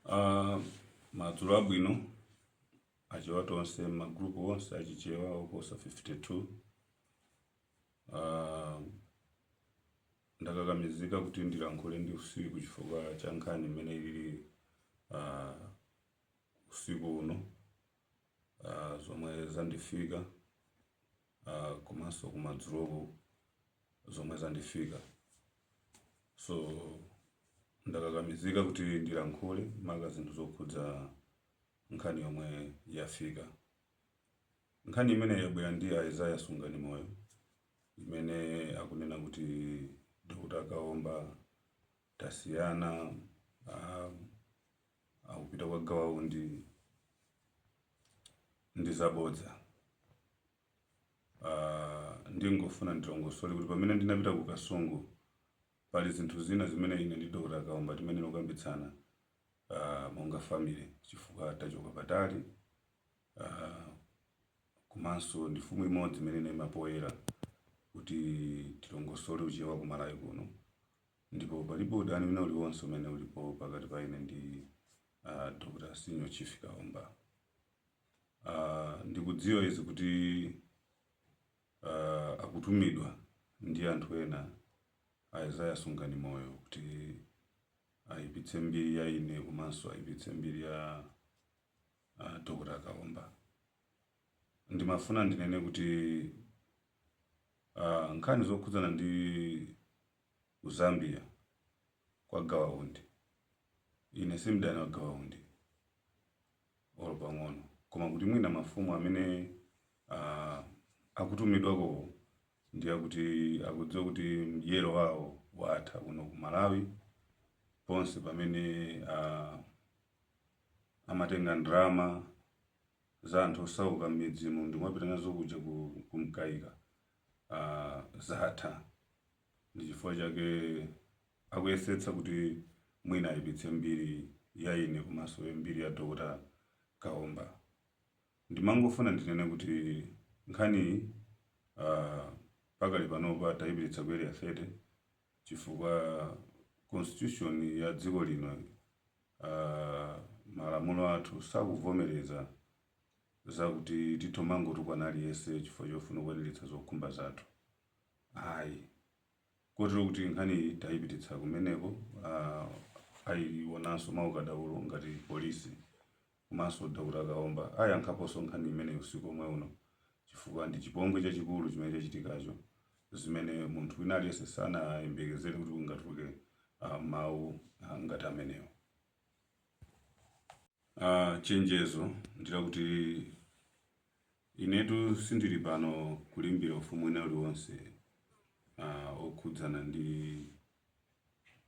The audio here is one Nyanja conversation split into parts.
Uh, madzulo abwino achewa tonse magrupu onse achichewa oposa 52 uh, ah, ndakakamizika kuti ndilankhule ndi usiku chifukwa cha nkhani imene ili uh, ah, usiku uno uh, zomwe zandifika uh, komanso kumadzuloku zomwe zandifika so ndakakamizika kuti ndilankhule maka zinthu zokhudza nkhani yomwe yafika nkhani imene yabwera ndi Isaiah Sungani Moyo imene akunena kuti Dr. Kaomba tasiyana uh, akupita kwa Gawa Undi ndi zabodza. Ah, ndingofuna ndilongosole kuti pamene ndinapita ku Kasungu pali zinthu zina zimene ine ndi Dr. Kaomba timenayokambitsana ah, monga family chifukwa tachoka patali ah, komanso ndi mfumu imodzi imene inaima poyera kuti tilongosole uchewa ku Malawi kuno Ndipo palibe udani wina uliwonse umene ulipo pakati pa ine ndi a Dr. Senior Chief Kaomba. Ah, ndikudziwa izi kuti ah, akutumidwa ndi anthu ena a Isaiah Sunganimoyo kuti ayipitse mbiri ya ine komanso ayipitse mbiri ya a Dr. Kaomba. Ndimafuna ndinene kuti ah, nkhani zokhudzana ndi ku Zambia kwa Gawa Undi. Ine si mdani wa Gawa Undi olo pang'ono, koma kuti mwina mafumu amene ah, akutumidwakowo ndiye kuti akudziwa kuti mdyero wawo watha kuno ku Malawi ponse pamene ah, amatenga ndalama za anthu osauka m'midzimu ndi kumapita nazo kuja ku- ku Mkaika uh, zatha ndi chifukwa chake akuyesetsa kuti mwina ayipitse mbiri ya ine komanso mbiri ya Dr. Kaomba ndimangofuna ndinene kuti nkhaniyi uh, pakali panopa tayipititsa ku Area 30 chifukwa constitution ya dziko lino uh, malamulo athu sakuvomereza zakuti titha kumangotukwana aliyense chifukwa chofuna kukwaniritsa zokhumba zathu ayi kotero kuti nkhaniyi tayipititsa kumeneko uh, ayionanso mwaukadaulo ngati polisi komanso Dr. Kaomba ayankhaponso nkhani imeneyo usiku omwe uno chifukwa ndi chipongwe chachikulu chimene chachitikacho zimene munthu wina aliyense sanayembekezere kuti kungatuluke uh, mawu uh, ngati amenewo Uh, chenjezo ndilakuti inetu sindili pano kulimbira ufumu wina uliwonse uh, okhudzana ndi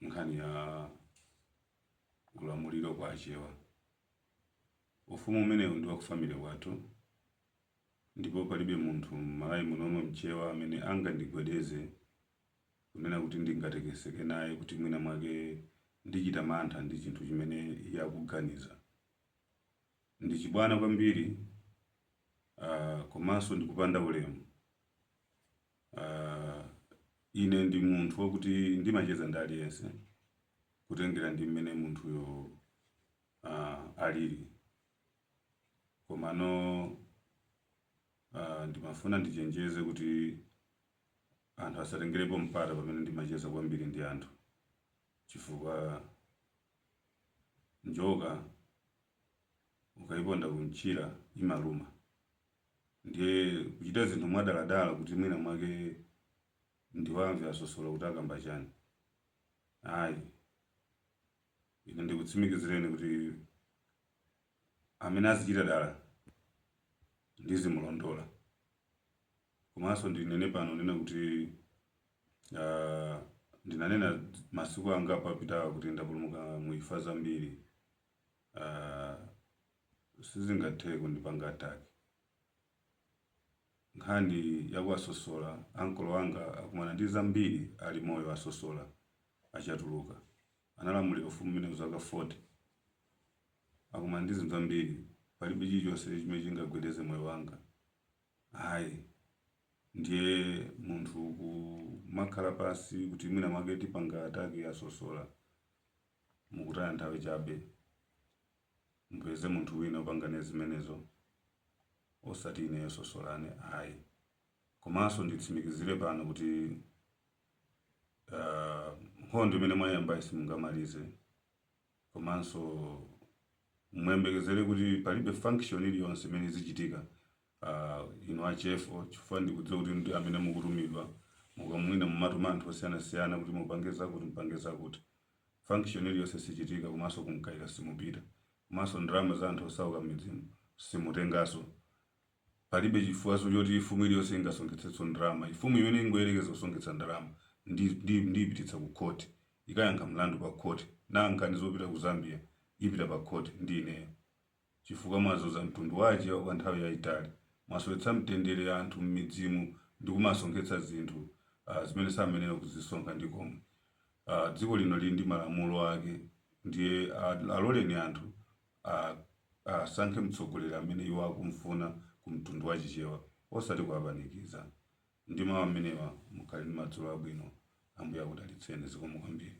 nkhani ya ulamuliro kwa achewa ufumu umenewu ndi wakufamily kwathu ndipo palibe munthu m'Malawi munomo mchewa amene angandigwedeze kunena kuti ndingatekeseke naye kuti mwina mwake ndichita mantha ndi chinthu chimene iye akuganiza. Ndi chibwana kwambiri uh, komanso ndikupanda ulemu. Uh, ine ndi munthu wakuti ndimacheza ndi aliyense kutengera ndi mmene munthuyo uh, alili komano uh, ndimafuna ndichenjeze kuti Anthu asatengerepo mpata pamene ndimacheza kwambiri ndi anthu chifukwa njoka ukaiponda kumchira imaluma. Ndiye kuchita zinthu mwadaladala kuti mwina mwake ndiwamve asosola kuti akamba chani, ayi. Ine ndikutsimikizireni kuti amene azichita dala ndizimulondola. Komanso ndinene pano nena kuti uh, ndinanena masiku angapo apitawa kuti ndapulumuka mu imfa zambiri uh, sizingathe kundipanga attack nkhani yakwa Sosola ankolo anga akumana ndi zambiri ali moyo a Sosola achatuluka analamulira ufumu umenewu zaka 40 akumana ndi zinthu zambiri palibe chilichonse chimene chingagwedeze moyo wanga Ayi. Ndiye munthu kumakhala pansi kuti mwina mwake tipanga attack a Sosola, mukutaya nthawi chabe. Mupeze munthu wina opanga naye zimenezo osati ineyo Sosola ine ayi. Komanso nditsimikizire pano kuti nkhondo imene mwayambayi simungamalize. komanso muyembekezere kuti palibe function iliyonse imene izichitika uh, inu a Chefo chifukwa ndikudziwa kuti ndi amene mukutumidwa mwinamwina mumatuma anthu osiyanasiyana kuti mupange zakuti mupange zakuti function iliyonse sichitika komanso ku Mkaika simupita komanso ndalama za anthu osauka m'midzimu simutenganso Palibe chifukwaso choti mfumu iliyose ingasonkhetsetso ndalama. Mfumu imene ingoyerekeza kusonkhetsa ndalama ndi ndi ndiyipititsa ku court ikayankha mlandu pa court. Nkhani zopita ku Zambia ipita pa court ndi ineyo. Chifukwa mwazunza mtundu wa achewa kwa nthawi yaitali. Mwasowetsa mtendere anthu mmidzimu ndi kumasonkhetsa zinthu uh zimene samayenera kuzisonkha ndi komwe. Uh dziko lino lili ndi malamulo ake ndiye uh aloleni anthu a, asankhe mtsogoleri amene iwo akumfuna ku mtundu wa Chichewa osati kuwapanikiza. Ndi mawu amenewa, mukhale ndi madzulo abwino. Ambuye akudalitseni. Zikomo kwambiri.